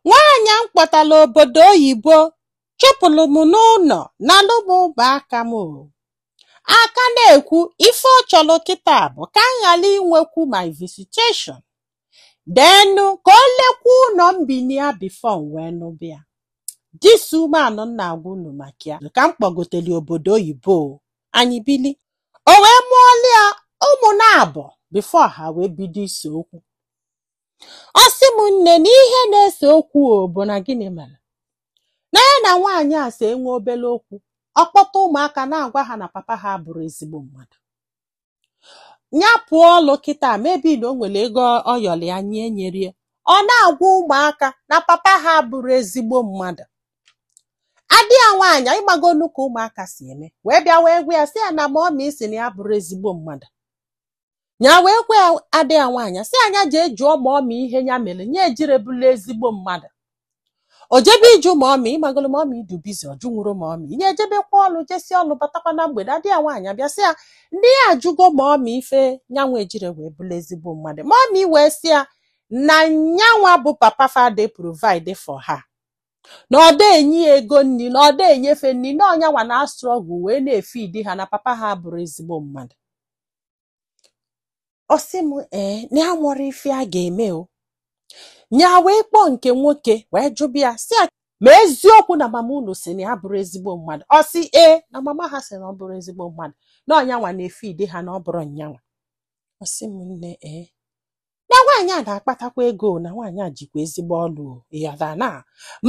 Nwaanyị m kpọtara obodo oyibo chụpụrụ m n'ụlọ nalụ m ụmụaka m ọ ka na-ekwu ife ọ chọrọ kịta bụ ka m ghara inwekwu my visitation then ka o lekwa ụlọ m bi na ya before m wee nụbịa this woman m na-agwa unu maka ya ka m kpọgotere obodo oyibo anyị bili o wee mụọlụ ya ụmụ naabọ before ha wee bido ise okwu ọ sị m nne na ihe na-ese okwu ọ bụ na gịnị mere na ya na nwaanyị a so enwe obere okwu ọ kpọta ụmụaka na-agwa ha na papa ha abụrọ ezigbo mmadụ ya pụọ ọlụ kịta maybe na o nwere ego ọ yọrọ ya nya enyerọ ya ọ na-agwa ụmụaka na papa ha abụrọ ezigbo mmadụ ada ya nwaanyị ị magonụ ka ụmụaka si eme wee bịa wee gwa ya sị ya na mummy sị na ya abụrọ ezigbo mmadụ nya wee gwa ada ya nwaanyị sị ya nya jee jụọ mummy ihe ya mere nya ejirọ bụlụ ezigbo mmadụ o jebe ịjụ mummy ị mago na mummy dị busy ọ jụnwurọ mummy nya ejebekwa ọlụ jesi ọlụ batakwa na mgbede ada ya nwaanyị abịa sị ya na ya ajụgo mummy ife nyanwa ejirọ wee bụlụ ezigbo mmadụ mummy wee sị ya na nyanwa bụ papa fa ada eprovide for ha na ọ da enye ya ego nri na ọ da enye fa nri na ọ nyanwa na-astruggle wee na-efeed ha na papa ha abụrọ ezigbo mmadụ ọ sị m ee na ya enwerọ ife a ga-eme o nya wee kpọọ nke nwoke wee jụba ya sị ya ma eziokwu na mama unu sị na ya abụrọ ezigbo mmadụ ọ sị ee na mama ha sị na ọ bụrọ ezigbo mmadụ na ọ nyanwa na-efeed ha na ọ bụrọ nyanwa ọ sị m nne ee na nwaanyị a na-akpatakwa ego na nwaanyị a jikwa ezigbo ọlụ ya da na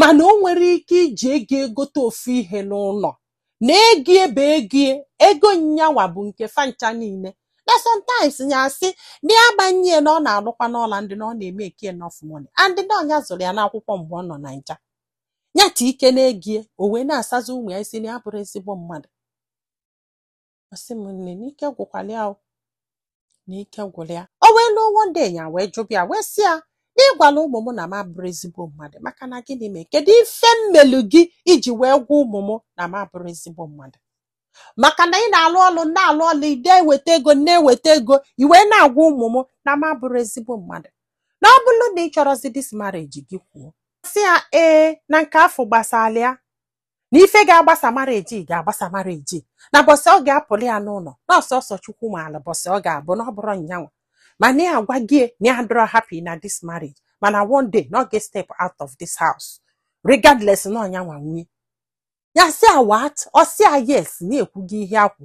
mana o nwerọ ike iji ego ya gote ofu ihe n'ụlọ na ego ya bụ ego ya ego nyanwa bụ nke fa ncha niile na sometimes ya asị na ya gbanye na ọ na-alụkwanụ ọlụ and na ọ na-emake enough money and ọ nya zụrụ ya n'akwụkwọ mgbe ọ nọ na Naija ya ta ike n'ego ya o wee na-asazi ụmụ ya isi na ya abụrọ ezigbo mmadụ ọ sị m nne na ike gwụkwalụ ya o na ike gwụrụ ya o wee luo one day ya wee jụba ya wee sị ya na ị gwalụ ụmụ m na m abụrọ ezigbo mmadụ maka na gịnị mee kedu ife m melu gị i ji wee gwa ụmụ m na m abụrọ ezigbo mmadụ maka na ị na-alụ ọlụ na-alụ ọlụ ị da eweta ego na-eweta ego i wee na-agwa ụmụ m na m abụrọ ezigbo mmadụ na ọ bụrụ na ị chọrọzi this marriage gị kwuo sị ya ee na nke afụ agbasarọ ya na ife ga-agbasa marriage ga-agbasa marriage na ụbọsị ọ ga-apụlụ ya n'ụlọ na ọ sọsọ Chukwu maalụ ụbọsị ọ ga-abụ na ọ bụrọ nyanwa mana ya agwago ya na ya adịrọ happy na this marriage mana one day na ọ ga-step out of this house regardless na ọ nyanwa nwe ya sị a what ọ sị a yes na ya ekwugo ihe ya kwu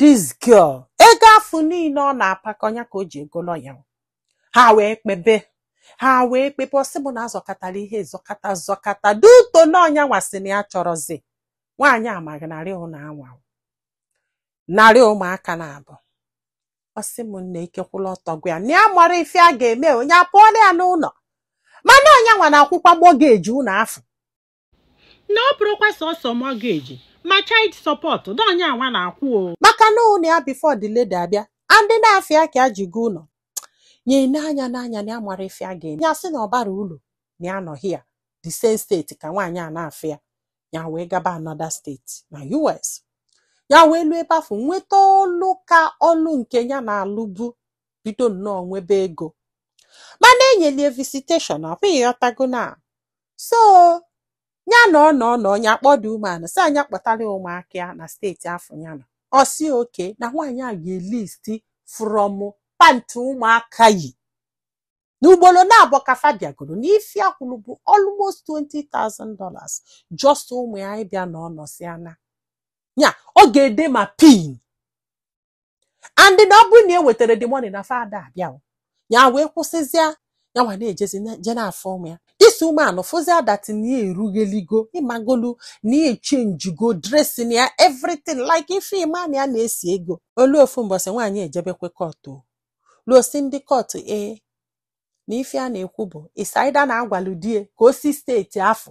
this girl ego afụ niile ọ na-apakọ nya ka o ji ego lọya ha wee kpebe ha wee kpebe ọ sị m na a zọkatara ihe zọkata zọkata due to na ọ nya nwa sị na ya chọrọzi nwaanyị amaghị narị ụlọ anwa narị ụmụaka naabọ ọ sị m nne ike kwụlụ ọtọ gwụ ya na ya amarọ ife a ga-eme nya apụọlụ ya n'ụlọ mana ọ nya nwa na-akwụkwa mọgeji ụlọ afụ na ọ bụrọkwa sọsọ mọgeji ma child support na ọ nya nwa na-akwụ o maka na ụnọ ya before the lady abịa and n'afa ya ka ya ji go ụlọ nne na nya na nya na ya amarọ ife a ga-eme ya sị na ọ barọ ulu na ya nọ here the same steeti ka nwaanyị a na-afụ ya ya wee gaba another steeti na US ya wee luo ebe afụ nweta ọlụ ka ọlụ nke ya na-alụbu bido nnọọ nwebe ego mana e nyelụ ya visitation ọkwa ị ghọtago na so nya nọọ nọọ nọọ nya akpọọ the woman a sị ya nya kpọtara ya ụmụaka ya na steeti afụ ya nọ ọ sị okay na nwaanyị a ga-elisti from pant ụmụaka yi n'ugboro naabọ ka fa bịagoro na ife ya kwụrụ bụ almost 20,000 dollars just ụmụ ya ịbịa n'ụnọ sị ya na ya ọ ga-ede ma pin and na ọ bụrụ na e wetarọ the money na fa ada abịa o, ya wee kwụsịzịa ya nwa na-ejezi na- je na-afụ ụmụ ya this woman afụzịa that na ya erugheligo ị magolu na ya echenjigo dressing ya everything like ife ị ma na ya na-esi ego o lu ofu mbọsị nwaanyị ejebekwe kọtụ luo sị ndị kọtụ ee na ife ya na-ekwu bụ it's either na a gwalụ di ya ka o si steeti afụ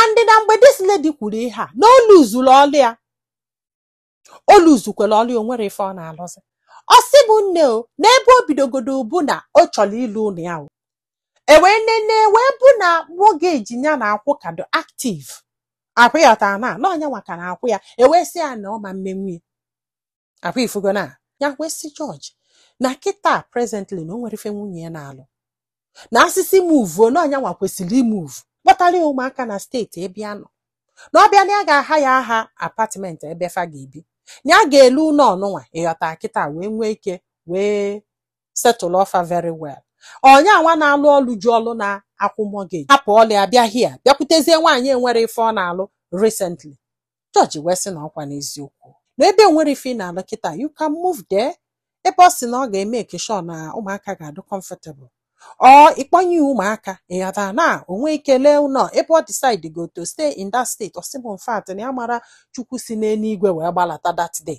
and na mgbe this lady kwuru ihe a na o luzuru ọlụ ya o luzukwara ọlụ ya o nwerọ ife ọ na-alụzi ọ sị m nne o n'ebe o bidogodu bụ na ọ chọrọ ile ụlọ ya o e wee nene wee fụ na mọgeji ya na-akwụ ka dụ active akwụ ya ọtara na na ọ nya nwa ka na-akwụ ya e wee sị ya na ọ ma emenwu ya ọkwa ị fụgo na ya wee sị jọji na kịta presently na o nwerọ ife nwunye ya na-alụ na a sị sị move na ọ nya nwa kwesịrị imove kpọtara ya ụmụaka na steeti ebe ya nọ na ọ bịa na ya ga-ahayara ha apartment ebe fa ga-ebi na ya ga-ele ụlọ nụnwa ị ghọta kịta wee nwee ike wee setụlụọ fa very well ọ nya nwa na-alụ ọlụ ji ọlụ na-akwụ mọgeji hapụ ọlụ ya bịa here bịakwutezie nwaanyị enwerọ ife ọ na-alụ recently jọji wee sị na ọkwa n'eziokwu na ebe o nwerọ ife ị na-alụ kịta you can move there ebe ọ sị na ọ ga-emake sure na ụmụaka ga-adụ comfortable or ị kpọnye ya ụmụaka ị ghọta na o nwee ike lee ụlọ ebe ọ decide go to stay in that state ọ sị m in fact na ya mara Chukwu si n'eluigwe wee gbalata that day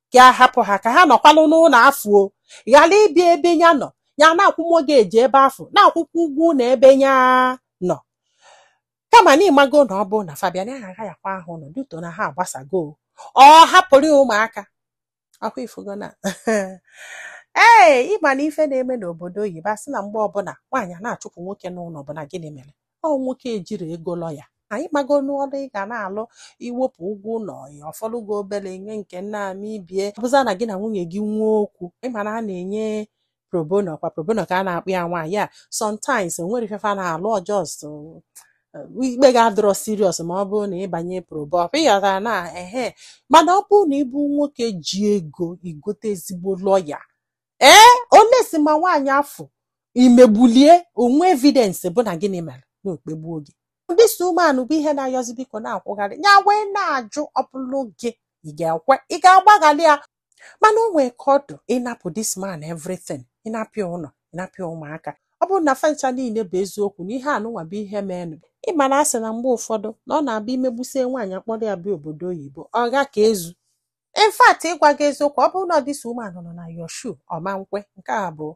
ka a hapụ ha ka ha nọkwalụ n'ụlọ afụ ọ ghara ịbịa ebe ya nọ ya na-akwụ mortgage ebe afụ na-akwụkwa ụgwọ ụlọ ebe ya nọ kama na ịmago na ọ bụrụ na Fabian ya agha ya kwa ahụ nọ due to na ha agbasago ọ hapụrụ ya ụmụaka ọkwa ịfụgo na ee ịma na ife na-eme n'obodo oyibo a sị na mgbe ọbụla nwaanyị a na-achụpụ nwoke n'ụlọ bụ na gịnị mere ọ nwoke ejirọ ego lọya anyị mago n'ọlụ ị ga na-alụ i wepụ ụgwọ ụlọ ya ọ fọlụ gị obere nye nke nna ama ibie bụzị na gị na nwunye gị nwee okwu ịma na a na-enye pro bono ọkwa pro bono ka a na-akpọ ya nwaanyị a sometimes o nwere ife fa na-alụ ọ just ikpe ga-adịrọ serious ma ọ bụrụ na ị banye probo ọkwa ịghọtara na ehe mana ọ bụrụ na ị bụ nwoke ji ego i gote ezigbo lọya ee unless ma nwaanyị afụ imegbulie o nwee evidence bụ na gịnị mere na o kpegbuo gị this woman bụ ihe na-ayọzi biko na-akwụgharị ya wee na-ajụ ọ bụlụ gị ị ga-ekwe ị ga-agbaghalị ya mana o nwee ka ọ dị ị napụ this man everything ị napụ ya ụlọ ị napụ ya ụmụaka ọ bụrụ na fa ncha niile bụ eziokwu na ihe anụnwa bụ ihe meenụ ị ma na a sị na mgbe ụfọdụ na ọ na-abụ i megbusie nwaanyị kpọrọ ya bịa obodo oyibo ọ ga ka ezu in fact ịgwa gị eziokwu ọ bụrụ na this woman nọ na your shoe ọ ma nkwe nke a bụ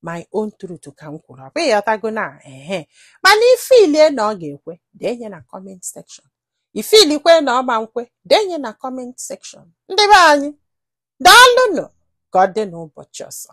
my own truth ka m kwuru ọ bụ ịghọtago na ehe mana i feelie na ọ ga-ekwe denye na comment section i feelikwa na ọ ma nkwe denye na comment section ndị be anyị daalụnụ ka ọ dị n'ụbọchị ọzọ